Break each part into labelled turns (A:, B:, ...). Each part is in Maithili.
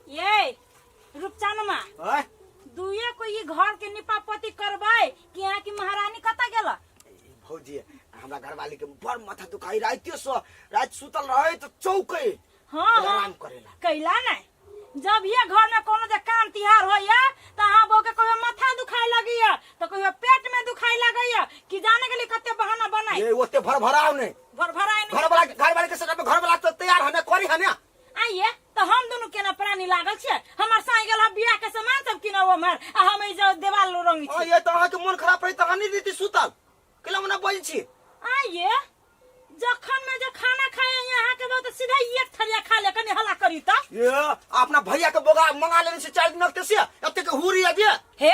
A: ये रूपचनमा ओए दुए को ई घर के निपापति करबै कि यहाँ की महारानी कतऽ गेल भौजी
B: हमरा घरवाली के बड़ माथा दुखाई रातियो सो रात सुतल रहे तो चौके हाँ हाँ आराम करेला कैला नहीं
A: जब ये घर में कोनो जे काम तिहार होइया तो अहाँ बहू के कहियो माथा दुखाय लगैया तो कहियो पेट में दुखाय लगैया कि जाने के लिए कते बहाना बनाई ये ओते भर भराव ने
B: घर भरा है घर वाला
A: घर वाले के सटक
B: घर वाला तो तैयार हने करी हने आइए तो
A: हम दोनों केना प्राणी लागल छे हमर साई गेल ह बियाह के सामान सब किना वो हमर आ हम ई जो देवाल लो रंगी आ छी ये तो अहाँ के मन खराब रही
B: तो अहाँ नहीं देती सुतल केला मना बोल छी आइए
A: जखन में जे खाना खाए यहाँ के बहुत सीधा एक थरिया खा ले कनी हला करी त ये अपना
B: भैया के बोगा मंगा लेने से चार दिन से अते के हुरी आ दिए हे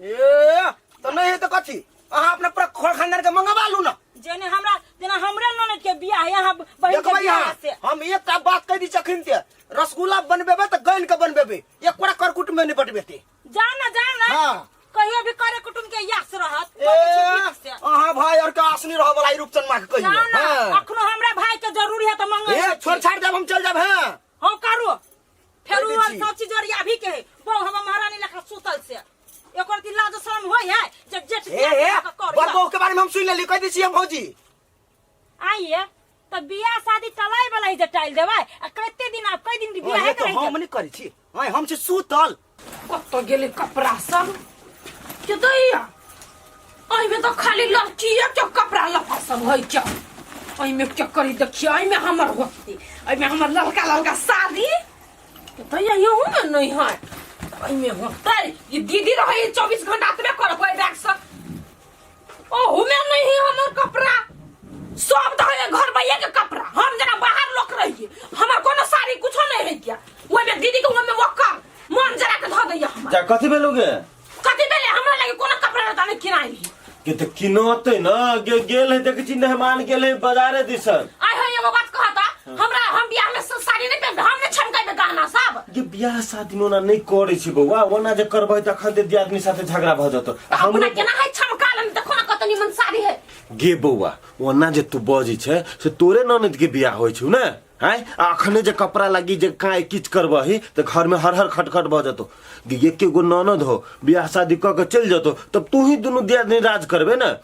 A: ए
B: तो नहीं है तो कथी अहाँ अपना पूरा खोल खानदार के मंगवा लू ना जेने हमरा
A: जेना हमरा ननद के बियाह है यहाँ बहन के देखबै बियाह यहाँ से हम एकटा बात कहि
B: दी चखिन ते रसगुल्ला बनबेबे तऽ गैन के बनबेबे एक कोड़ा करकुट में निपट बेते जा ना जा ना हाँ।
A: कहियो भी करे कुटुम के यास रहत ए बड़ी छुट्टी से। अहाँ भाई और
B: के आसनी रह वाला ई रूपचन मां के ना कहियो ना हाँ। अखनो हमरा
A: भाई के जरूरी है तो मंगल ए छोड़ छाड़ जब हम चल
B: जाब हैं हम करू
A: फेर कहि उ दै छी। सब चीज ओरिया भी के बहु हम महारानी लेखा सुतल से एकर दिन लाज शर्म होय है जे जेठ हे बियाह हे के कर बड़ दिया। बहू के
B: बारे में हम सुन लेली कह दै छियै भौजी
A: आइए तो बियाह शादी टलाई वाला ही जे टाइल देबै आ कते दिन आप कई दिन के बियाह अरे तो करै हम छै नहीं करी छी
B: हां हम छी सुतल कतऽ गेलै
A: कपड़ा सब के दैया एहिमे तऽ खाली लड़किए के कपड़ा लत्ता सब होइ छै एहिमे के करी देखिए एहिमे हमर होतै एहिमे हमर ललका ललका साड़ी के दैया यहूँमे नहि है एहिमे होतै ई दीदी रहै चौबीस घंटा एतबे करब ओहि बैगसँ ओहू में नहीं है हमर कपड़ा सब तो है घर भैया के कपड़ा हम जना बाहर लोग रहिए हमर कोनो साड़ी कुछो नहीं है क्या ओइ में दीदी के ओइ में वक्कर मन जरा के धो दैया हमर जा कथी भेलुगे
C: कथी भेले
A: हमरा लगे कोनो कपड़ा रहता नहीं किनाई है के त किनते
C: न गे गेल है देख छी मेहमान गेल है बाजारे दिसन आय हो एगो बात
A: कहता हमरा हम बियाह में स- साड़ी नहीं पहन हम ने छमकेबे गहना सब जे बियाह शादी में
C: ओना नहि करै छै बौआ ओना जे करबै तऽ अखन ते दियादनी साथे झगड़ा भऽ जेतौ आ अपना हमरो केना है
A: छमका लेन देखो ना कतनी मन साड़ी है गे बौआ
C: ओना जे तू बजै छै से तोरे ननद के बियाह होइ छौ ने हैं आ अखने जे कपड़ा लागी जे काहे किच करबही तऽ घर में हर हर खटखट भऽ जेतौ गे एके गो ननद हो बियाह शादी कऽ के चलि जेतौ तब तू ही दुनू दियादनी राज करबे ने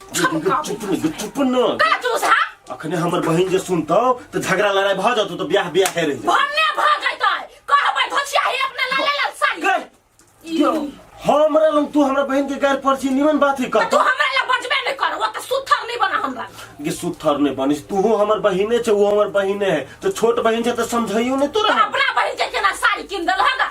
A: छम का चुप चुप चुप चुप न का चूस हा अखने हमर बहिन जे
C: सुनतौ त झगड़ा लड़ाई भ जतौ त ब्याह ब्याह रह जतौ भन्ने भ
A: जइतै कहबै धोसिया हे अपना लाले लाल साड़ी गैर, यो हमरा लंग
C: तू हमरा बहिन के गैर परची निमन बात ही त तू करतौ हमरा ला बजबे
A: नै
C: कर
A: वो त सुथर नै बना हमरा कि सुथर ने
C: बनिस तू हमर बहिने छ वो हमर बहिने है तो छोट बहिन छ त समझाइयो ने तोरा हम। अपना बहिन के केना
A: साड़ी किन देल हगा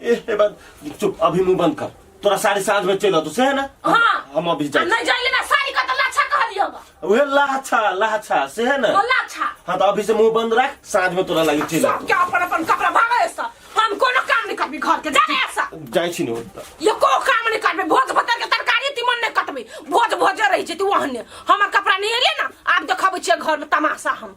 A: ए बन
C: चुप अभी मुंह बंद कर तोरा साढ़े साँझ में चल तो से है ना हम- हाँ। हम अभी आ जाए
A: नहीं जाइले
C: ना साड़ी का तो
A: लाछा कह दियो बा उहे लाछा
C: लाछा से है ना तो लाछा हाँ तो अभी
A: से मुंह बंद
C: रख साँझ में तोरा लगी चल सब के अपन अपन कपड़ा
A: भागे सा हम कोनो काम नहीं करबी घर के जाने ऐसा जाए छी नहीं होता
C: ये को काम नहीं
A: करबी भोज भतर के तरकारी तिमन नहीं कटबी भोज भोज रही छै तू वहने हमर कपड़ा नहीं एले ना आब देखब छै घर में तमाशा हम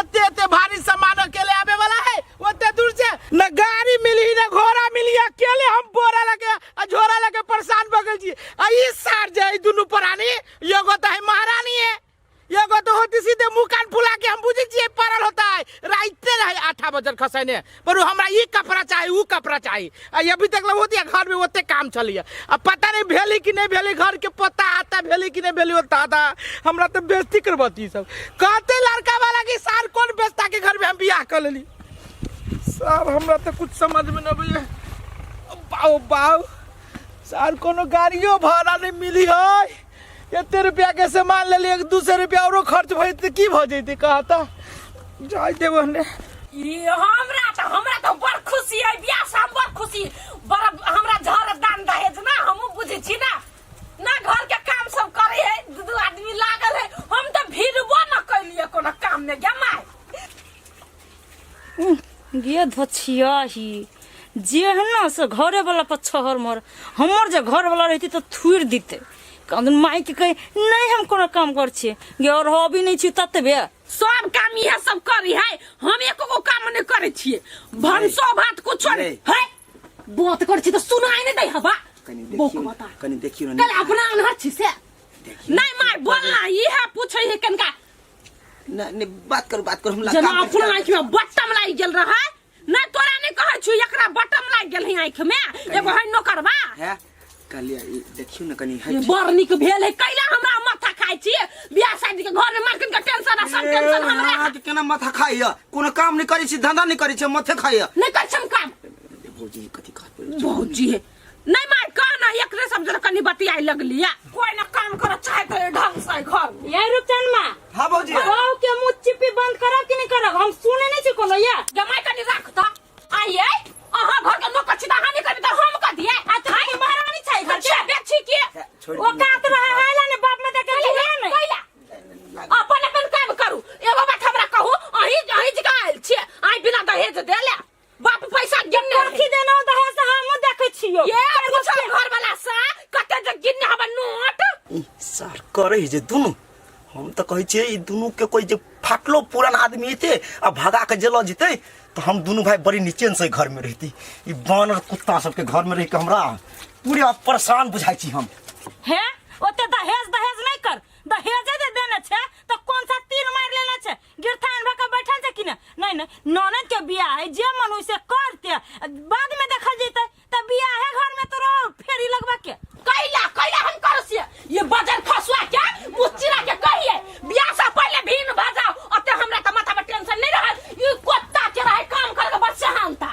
D: एते एते भारी सामान अकेले आवे वाला है ओते दूर से न गाड़ी मिली न घोड़ा मिली अकेले हम बोरा लगे आ झोरा लगे परेशान भ गेल छी आ ई सार जे ई दुनू प्राणी एगो त है महारानी है एगो तो होती सीधे मुंह कान फुला के हम बुझे छिए पड़ल होता है राइते रहे आठा बजर खसैने पर हमरा ई कपड़ा चाही ऊ कपड़ा चाही आ ये अभी तक ले होती घर में ओते काम चलिए अब पता नहीं भेली कि नहीं भेली घर के पता आता भेली कि नहीं भेली होता आता हमरा तो बेइज्जती करबती ई सब कहते लड़का वाला कि सार कौन बेचता के घर में हम बियाह कर लेली सर हमरा तो कुछ समझ में न आबैया बाऊ बाऊ सर कोनो गाड़ियो भाड़ा नहीं मिली है एते रुपया के सामान ले लिए दू सौ रुपया औरो खर्च भई त की भ जइते कहता जाय देबो ने ई हमरा
A: त हमरा त बड़ खुशी है बियाह से हम बड़ खुशी बड़ हमरा झर दान दहेज ना हमहू बुझे छी ना ना घर के काम सब करे है दू दू आदमी लागल है हम त भिड़बो न कैलिए कोनो काम में गे माय
E: गे धछियाही जेहना से घरे वाला पर छहर मर हमर जे घर वाला रहती तो थुर दिते कदन माई के कहे नहीं हम कोनो काम कर छी गे और हो भी नहीं छी ततबे सब काम इहे
A: सब करी है हम एको गो काम नहीं करे छिए भनसो भात कुछ नहीं नहीं। है बात कर छी तो सुनाई नहीं दे हवा कनी बोक देखियो बता
B: कनी देखियो कल ना अपना अनहर छी
A: से देखियो। नहीं माय बोलना इहे पूछे है कनका नहीं
B: नहीं बात करू बात करू हम लड़का जना अपना आँख में
A: बटम लाग गेल रहा ना तोरा नहीं कहै छु एकरा बटम लाग गेल है आँख में एगो है नौकरवा है
B: कहलिए ई देखियो ना कनी है ये बड़ नीक भेल है कैला
A: हमरा माथा खाइ छी बियाह शादी के घर में मार्केट के टेंशन आ सब टेंशन हमरा अहाँ के केना माथा खाइया
B: कोनो काम नहीं करै छी धंधा नहीं करै छी माथे खाइया नहीं कर छम काम
A: भौजी कथी
B: कहत भौजी है
A: नहीं मार का ना एक रे समझ लो कनी बतियाई लगली या कोई ना काम करो चाहे तो ये ढंग से घर में। ये रुपचन माँ
E: हाँ भौजी बहू
B: के मुँह चिपी
E: बंद करब कि नहीं करब हम सुने नहीं छी कोनो ये जमाई कनी रख तो
A: आइए अहाँ घर के नौकर छी हानि करी तो हम कर दिए आ तो हाय महारानी छै घर के बेची के छोड़ वो कात रहे है
E: ला ने बाप में देख के लिया नहीं कैला
A: अपन अपन काम करू एगो बात हमरा कहू अही अही जगह आयल छी आई बिना दहेज देले बाप पैसा गिनने रहै। कथी देना दहे से
E: हमहूँ देखै छियौ ये पूछो घर
A: वाला से कते जे गिनने हमर नोट ई सर
B: करे जे दुनू हम तऽ कहै छियै ई दुनू के कोई जे फाटलो पुरान आदमी हेतै आ भगा के जेलो जेतै तऽ हम दुनू भाय बड़ी निचेन से घर में रहती ई बानर कुत्ता सबके घर में रह के हमरा पूरे परेशान बुझाइ छी हम हे
E: ओते दहेज दहेज नहीं कर दहेजे जे देने छे तो कौन सा तीर मार लेने छे गिरथान भा के बैठल छै कि ने नहीं नहीं ननद के बियाह है जे मन होई से करते बाद में देखल जैते त बियाह है घर में तो रहो फेरी लगवा के कैला कैला हम
A: करो से ये बजर फसुआ के मुस्चिरा के कहिए बियाह से पहले भीन भा जाओ अते हमरा त माथा पर टेंशन नहीं रहल ई कुत्ता के रहे काम कर के बच्चा हम था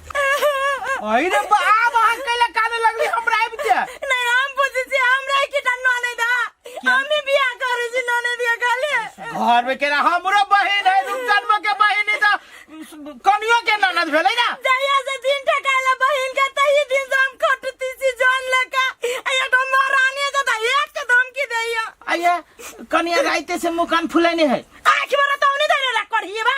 D: अहि रे बा आब अहाँ कैला काने लगली हमरा आबि के नहीं हम पूछे
E: छी हमरा के टा नने दा हमें बिया करे छी नने दिया खाली घर में केना
D: हमरो बहिन है रूप जन्म के बहिन है त कनियो के ननद भेलै ना जहिया से दिन
E: ठकाला बहिन के तही दिन से हम खटती छी जान लका आया तो महारानी से दा एक के धमकी देया आइए
D: कनिया राइते से मुकान फुलेने है आखि में तो नहीं
E: देने रख कर हिए बा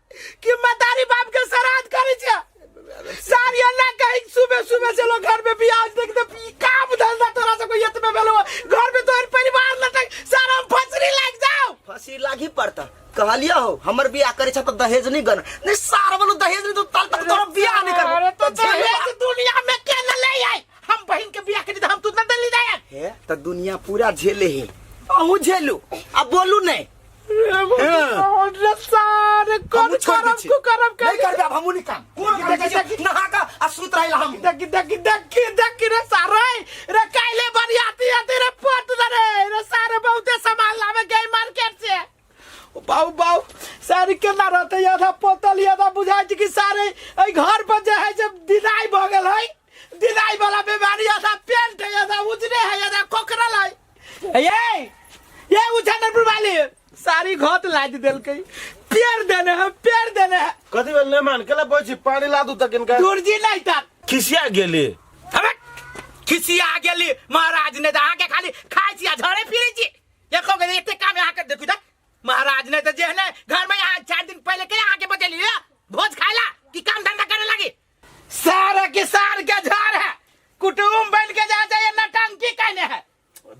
D: कि मतारी बाप के श्राद्ध करे छे सार ये ना कही सुबह सुबह से लोग घर में प्याज देख दे ई काम धंधा तोरा से कोई इतने भेलो घर
B: में तोहर परिवार लटक सारा हम फसरी लाग जाओ फसी लागी पड़ता कहलिया हो हमर बियाह करे छे तो दहेज नहीं गन नहीं सार वालो दहेज नहीं तो ताल तक तोरा बियाह नहीं करबो अरे तो दहेज
D: दुनिया में के न ले आई हम बहन के बियाह करी त हम तू न दली जाए हे तो दुनिया
B: पूरा झेले ही अहू झेलू अब बोलू नहीं हमू
D: छोड़ दी छी नहीं करबे अब हमू नहीं काम देखै छी नहा का आ सुत
B: रहल हम देखी देखी देखी देखी
D: रे सारे रे काइले बरियाती आती रे पट दे रे रे सारे बहुते सामान लावे गए मार्केट से ओ बाऊ बाऊ सारी के ना रहते आधा पोतल आधा बुझाय छै कि सारे ए घर पर जे है जब दिनाई भ गेल है दिनाई वाला बीमारी आधा पेंट है आधा उजरे है आधा कोकरल है ये ये उ चंदनपुर वाली सारी घोत लाद देलकै पेड़ देने है पेड़ देने है कथी भेल नहि मान
C: केला बोल छी पानी ला दू तक इनका दुर्जी नहीं था
D: खिसिया गेली
C: हमे
D: खिसिया गेली महाराज ने तऽ अहाँके खाली खाइ छी आ झरे फिरै छी एको गो एते काम अहाँ कर देखू तऽ महाराज ने तऽ जेहने घर में अहाँ चार दिन पहले के अहाँके बतेली भोज खायला कि काम धंधा करे लागी सारा किसान के झाड़ है कुटुम बन के जा जाए नटंकी कहने है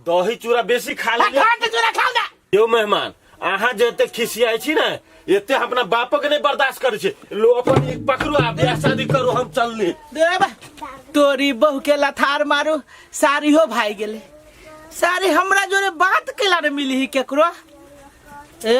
D: दही चूड़ा
C: बेसी खा ले घाट चूड़ा खाओ ना
D: यो मेहमान
C: अहाँ जे एते खिसियाइ छी ने एते हम अपना बापक नहि बर्दाश्त करै छी लो अपन एक पकड़ू आ बियाह शादी करू हम चलली देब
D: तोरी बहू के लथार मारू सारी हो भाई गेले सारी हमरा जोरे बात केला ने मिली ही केकरो ए